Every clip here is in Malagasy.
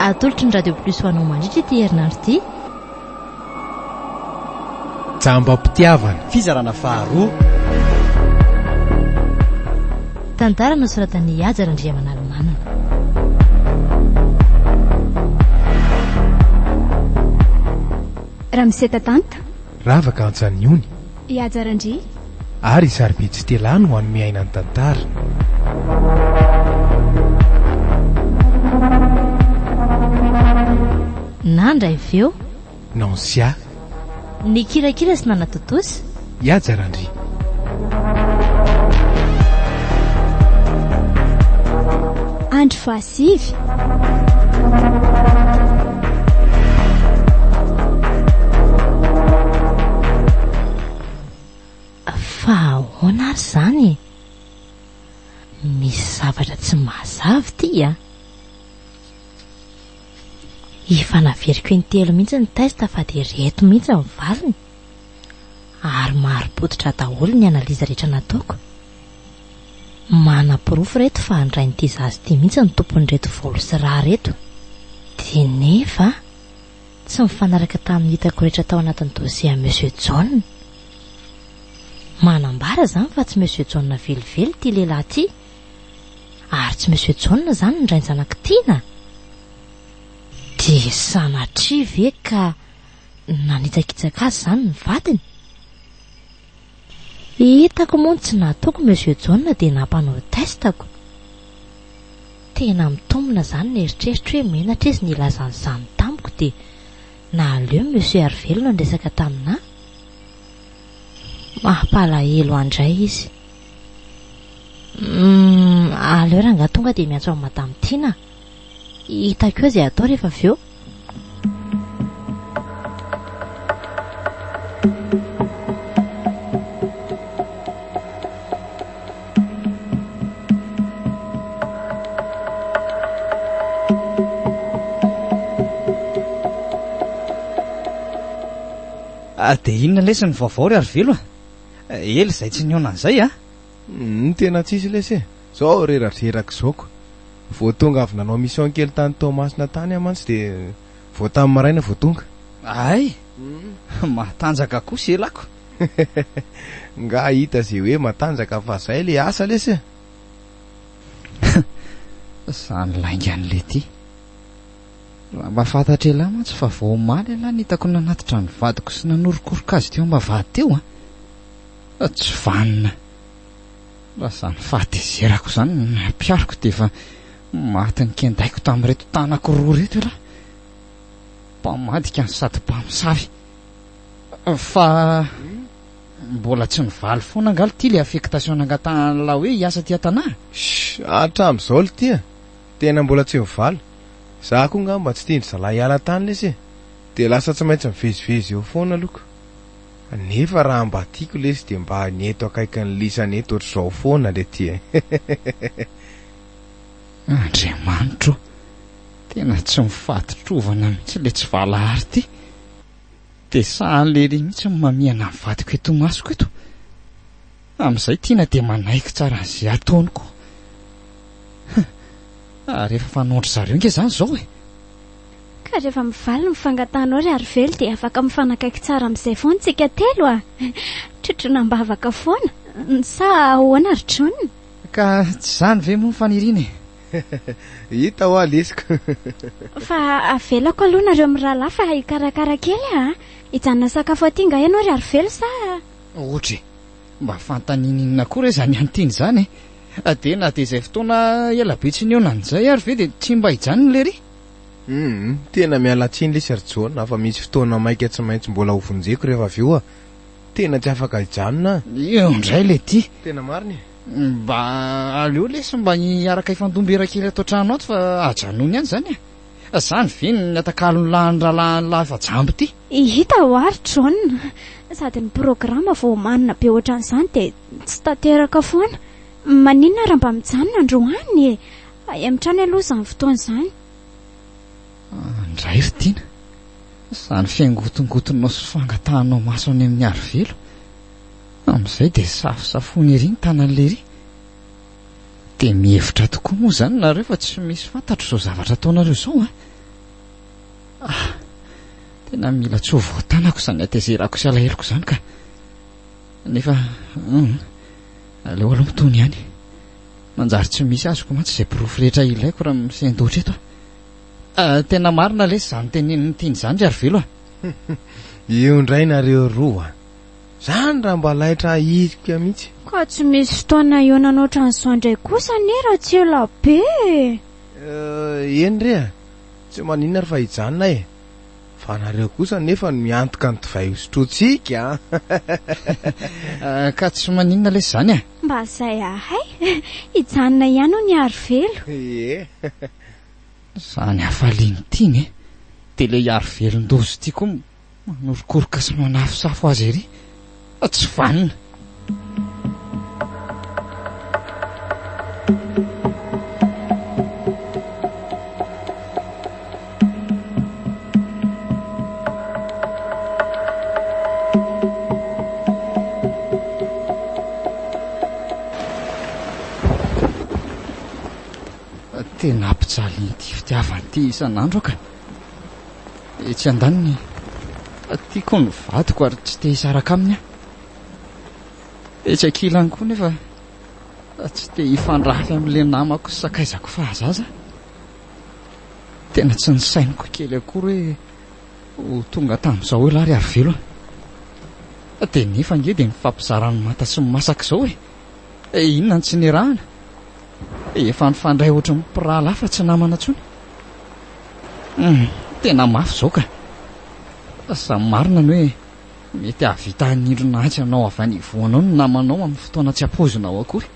Atolotry ny Radio Plus ho anao mandritra ity herinandro ity. Jambam-pitiavana. Fizarana faharoa. Tantara nosoratan'i Haja Randriamanalomanana. Ramseta Tanta. Ravaka Antsanihony. I Haja Randria. Ary i Sarobidy Stella no hanome aina ny tantara. Nandra avy eo. Nancia. Nikirakira sy nanatontosa. I Haja Randria. Andry Fa. Fa ahoana ary izany e? Misy zavatra tsy mazava ity a! Efa naveriko intelo mihitsy ny test fa dia ireto mihitsy ny valiny, ary mari-pototra daholo ny analyse rehetra nataoko. Manaporofo reto fa andrain'ity zaza ity mihitsy ny tompon'ireto volo sy rà reto. Dia nefa tsy mifanaraka tamin'ny hitako rehetra tao anatin'ny dossier an'i Monsieur Jaona. Manambara izany fa tsy Monsieur Jaona velively ity lehilahy ity. Ary tsy Monsieur Jaona izany ny rain-janak'i Tiana. Dia sanatria ve ka nanitsakitsaka azy izany ny vadiny? Hitako moa ny tsy nataoko Monsieur Jaona dia nampanao test ako. Tena mitombina izany ny eritreritra hoe menatra izy nilaza an'izany tamiko dia nahaleo Monsieur Harivelona niresaka taminà. Mampalahelo ahy indray izy. Humm, aleo rangahy tonga dia miantso an'i Madame Tiana. Hitako eo izay atao rehefa avy eo. Ah, dia inona lesy ny vaovao ry Arivelo a? Ela izay tsy nihaona an'izay a! Humm tena tsisy lesy e! Zao reradreraka zao ko! Vao tonga avy nanao mission kely tany Toamasina tany aho mantsy dia vao tamy maraina vao tonga. Ay! Matanjaka kosa elako! Nga hita ze hoe matanjaka fa zay le asa lesy e! Humm zany lainga an'i Letty! Raha mba fantatr'elah mantsy fa vao omaly elah no hitako nanatitra ny vadiko sy nanorokoroka azy teo am-bavahady teo a! Tsy vanona raha izany fahatezerako izany no nampihariko dia efa maty nikendaiko tamin'ireto tanako roa ireto ialahy. Mpamadika no sady mpamosavy. Fa mbola tsy nivaly foana angaha litia ilay affectation nangatahan'lah hoe hiasa aty an-tanà? Hatramin'izao litia tena mbola tsy nivaly. Izaho koa ngamba tsy tian-dry zalahy hiala tany lesy e. Dia lasa tsy maintsy mivezivezy eo foana alohako. Nefa raha mba tiako lesy dia mba ny eto akaikin'ny lisany eto ohatr'izao foana le ty e hehehehe. Andriamanitro o! Tena tsy mifaditrovana mihitsy le tsy valahary ty! Dia sahaly ery mihitsy ny mamihana ny vadiko eto imasoko eto! Amin'izay Tiana dia manaiky tsara an'izay ataony koa. Huh! Ary efa fanondro zareo nge zany zao e! Ka rehefa mivaly ny fangatahanao ry Harivelo dia afaka mifanakaiky tsara amin'izay foana tsika telo a! Trotroina am-bavaka foana! Sa ahoana ry John? Ka tsy izany ve moa ny faniriana e! Hita hoa lesoko! Fa avelako aloha nareo mirahalahy fa hikarakara kely aho a! Hijanona hisakafo aty nga ianao ry Harivelo sa? Otry mba fantany ininona koa re zany antin zany e! Dia na dia izay fotoana ela be tsy nihaonany izay ary ve dia tsy mba hijanona ilay ry? Humm tena miala tsiny lesy ry John afa misy fotoana maika tsy maintsy mbola ho vonjeko rehefa avy eo a! Tena tsy afaka hijanona a! Eo indray le ty! Tena marina e! Mba aleo lesy mba hiaraka hifandom-bera kely ato an-trano ato fa ajanony ihany izany e! Zany ve ny atakalony lahin'ny rahalahin'i Lahifa Jambo ity? Hita ho ary John, sady ny programa vao omanina be ohatran'izany dia tsy tanteraka foana. Maninona ary mba mijanona androany e? Hemitrany aloha izany fotoana izany. Ndray ry Tiana, izany fiangotongotonao sy fangatahanao maso any amin'ny Arivelo, amin'izay dia safosafoina ery ny tanan'i Lery. Dia mihevitra tokoa moa izany nareo fa tsy misy fantatro izao zavatra ataonareo izao an! Ah! Tena mila tsy ho voatanako izany hatezerako sy alaheloko izany ka! Nefa, hum, aleo aloha mitony ihany. Manjary tsy misy azoko mantsy izay porofo rehetra ilaiko raha misendoatra eto aho. Ah, tena marina lesy izany tenenin'i Tiny izany ry Arivelo a! Io indray nareo roa! Zany raha mba laitra ahirika mitsy. Ka tsy misy fotoana hihaonana otran'izao indray kosa anie raha tsy ela be e! Eh, eny re a! Tsy maninona ary fa hijanona e! Fa nareo kosa nefa no miantoka ny divay hosotroantsika a! Ka tsy maninona lesy zany e! Mba zay ahay! Hijanona ihany hono i Arivelo! Ie! Zany hafaliany ity ne! De le i Arivelon-doza ity koa Manorokoroka sy manafosafo azy ery fa tsy vanona. Tena ampijalin'ity fitiavana ity isan'andro aho ka. Etsy andaniny, tiako ny vadiko ary tsy te hisaraka aminy aho. Etsy ankilany koa nefa tsy te hifandrafy amin'ilay namako sakaizako fahazaza. Tena tsy nisainiko kely akory hoe ho tonga tamin'izao ilay ary velona. Dia nefa ange dia mifampizara ny manta sy ny masaka izao e. Eh inona ny tsy nirahana? Efa nifandray ohatry ny mpirahalahy fa tsy namana intsony. Hmm, tena mafy izao ka. Sa marina ny hoe mety hahavita hanindrona atsy anao avy any ivoanao ny namanao amin'ny fotoana tsy ampoizinao akory.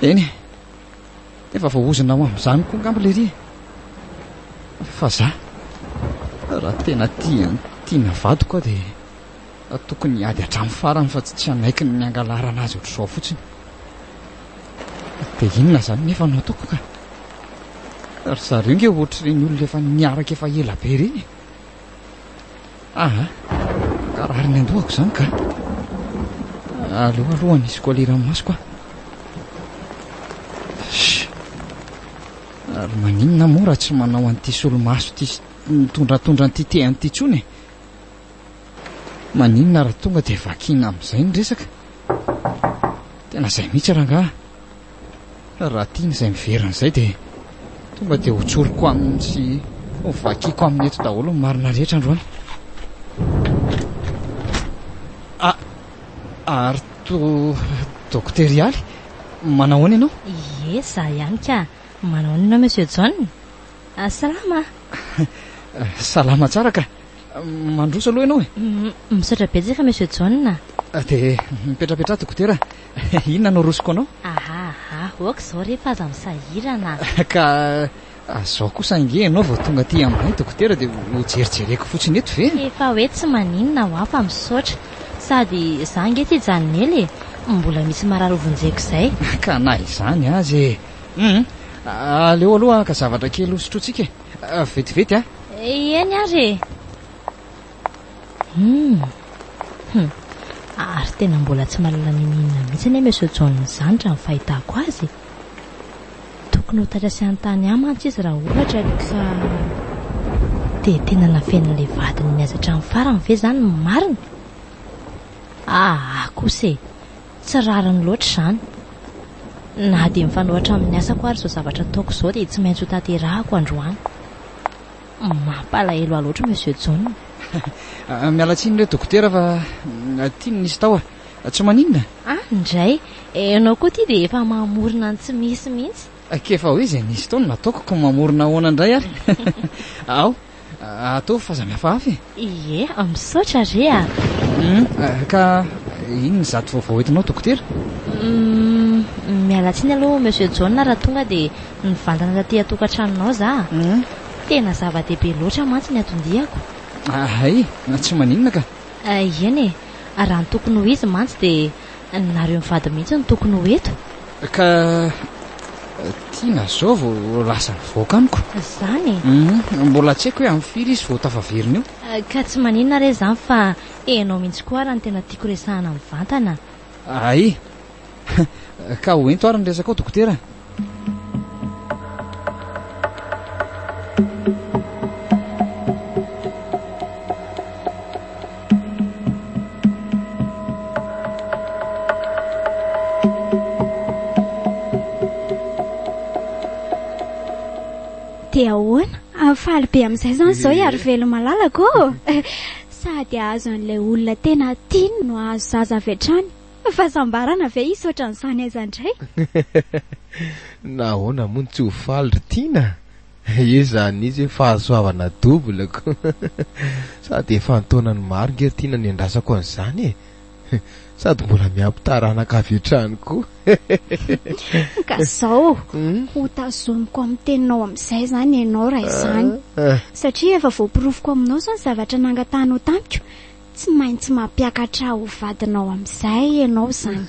Eny, efa voahozona ho amin'izany koa ngamba lery e. Fa za, raha tena tia ny tiana vadiko aho dia Tokony hiady hatramin'ny farany fa tsy hanaiky ny hangalarana azy ohatr'izao fotsiny. Dia inona izany nefa no ataoko ka? Ry zareo nge ohatr'ireny olona efa niaraka efa ela be ireny. Aha, ka rariny an-dohako izany ka. Aleo aloha nisy kolera amin'ny masoko aho. Ary maninona moa raha tsy manao an'ity solomaso ity mitondratondra an'ity tehany ity intsony e? Maninona ary tonga dia vakiana amin'izay ny resaka? Tena izay mihitsy rangahy a! Raha tiany izay miverina izay dia tonga dia hotsoriko aminy sy hovakiako aminy eto daholo ny marina rehetra androany. A, ary to Dokotera Ialy, manao ahoana ianao? Ie, za ihany ka. Manao ahoana ianao Monsieur John? Salama a! Salama tsara ka. Mandroso aloha ianao e. Misaotra betsaka Monsieur John a. Dia mipetrapetraha dokotera a. Inona no arosoko anao? Aha aha, ok izao re fa aza misahirana a. Ka izao kosa ange ianao vao tonga aty aminay dokotera dia ho jerijereko fotsiny eto ve? Efa hoe tsy maninona hoa fa misaotra. Sady izaho ange tsy hijanon'ela e. Mbola misy marary hovonjeko izay. Ka na izany aza e. Hum, aleo aloha ka zavatra kely hosotrointsika e. Vetivety a. Eny ary e. Hmm. Hmm. Ary tena mbola tsy mahalala n'inon'inona mihitsy anie Monsieur John izany raha ny fahitako azy. Tokony ho taitra sy hanontany ahy mantsy izy raha ohatra ka dia tena nafenin'ilay vadiny mihaza hatramin'ny farany ve izany ny marina? Aa kosa e. Tsy rariny loatra izany. Na dia mifanohatra amin'ny asako ary izao zavatra ataoko izao dia tsy maintsy hotanterahako androany. Mampalahelo ahy loatra Monsieur John. Miala tsiny re dokotera fa aty no nisy tahotra. Tsy maninona. Any indray. Ianao koa aty dia efa mamorona ny tsy misy mihitsy. K'efa hoe izay nisy tao no nataoko, koa mamorona ahoana indray ary. Ao. Ataovy fa za mihafahafa e. Ie, misaotra re a. Hum, ka inona ny zato vaovao entinao dokotera? Hum, miala tsiny aloha Monsieur John raha tonga dia nivantana taty an-tokantranonao za. Hum. Tena zava-dehibe loatra mantsy ny atondihako. Hay, tsy maninona ka. Ieny e, raha ny tokony ho izy mantsy dia Nareo mivady mihitsy no tokony ho eto. Ka Tiana zao vao lasa nivoaka amiko. Zany e. Hum, mbola tsy haiko hoe amin'ny firy izy vao tafaverina eo. Ka tsy maninona re zany fa enao mihitsy koa ara no tena tiako resahana mivantana. Ae. Ka ho ento ary ny resakao dokotera. Dia ahoana? Ah, faly be amin'izay izany izao i Arivelo malalako ô! Sady hahazo an'ilay olona tena tiany no hahazo zaza avy hatrany. Fahasambarana ve hisy ohatran'izany aiza indray? Nahoana moa no tsy ho faly ry Tiana? Io izany izy hoe fahasoavana double ko! Sady efa an-taonany maro nge ry Tiana niandrasako an'izany e! Sady mbola miampy taranaka avy hatrany koa! Ka izao, ho tazomiko amin'ny teninao amin'izay izany ianao raha izany. Satria efa voaporofoko aminao izao ny zavatra nangatahanao tamiko. Tsy maintsy mampiakatra ho vadinao amin'izay ianao izany.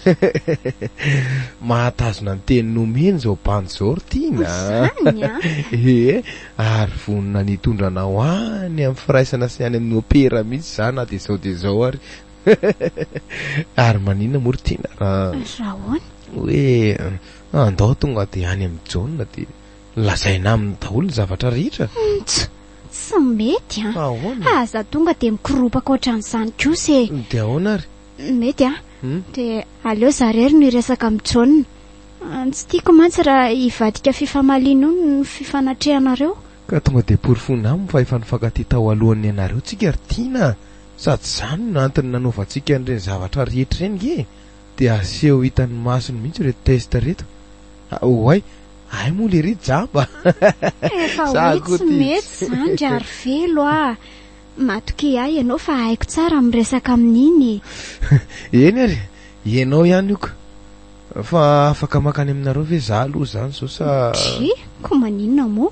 Mahatazona ny teny nomeny izao bandy izao ry Tiana a! Izany a! Ee, ary vonona ny hitondra anao any amin'ny firaisana sy any amin'ny opera mihitsy za na dia izao dia izao ary. Ary maninona moa ry Tiana raha. Raha ahoana? Hoe andao tonga dia any amin'i Jaona dia. Lazaina aminy daholo ny zavatra rehetra. Ntch! Tsy mety an! Ahoana? Aza za tonga dia mikoropaka ohatran'izany kosa e! Dia ahoana ary? Mety an! Dia aleo za irery no hiresaka amin'i John. Tsy tiako mantsy raha hivadika fifamaliana io ny fifanatrehanareo. Ka tonga dia porofoina aminy fa efa nifankatia tao alohan'ny nianareo tsika ry Tiana a! Sady izany no antony nanaovantsika an'ireny zavatra rehetra ireny nge e! Dia aseho hitan'ny masony mihitsy ireto test ireto. Oay! Ay moa lery jamba Efa za hoe koa tsy ty. mety izany ry Arivelo a! Matokia ahy ianao fa haiko tsara miresaka amin'iny e! Eny ary, ianao ihany ok. Fa afaka mankany aminareo ve za aloha izany izao sa? Tchii! Koa maninona moa?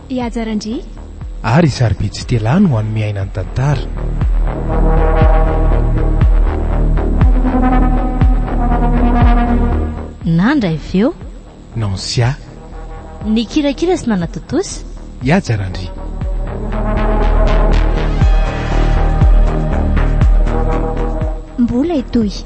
I Haja Randria. Ary i Sarobidy Stella no hanome aina ny tantara. Nandra avy eo. Nancia. Nikirakira sy nanatontosa. I Haja Randria. Mbola hitohy.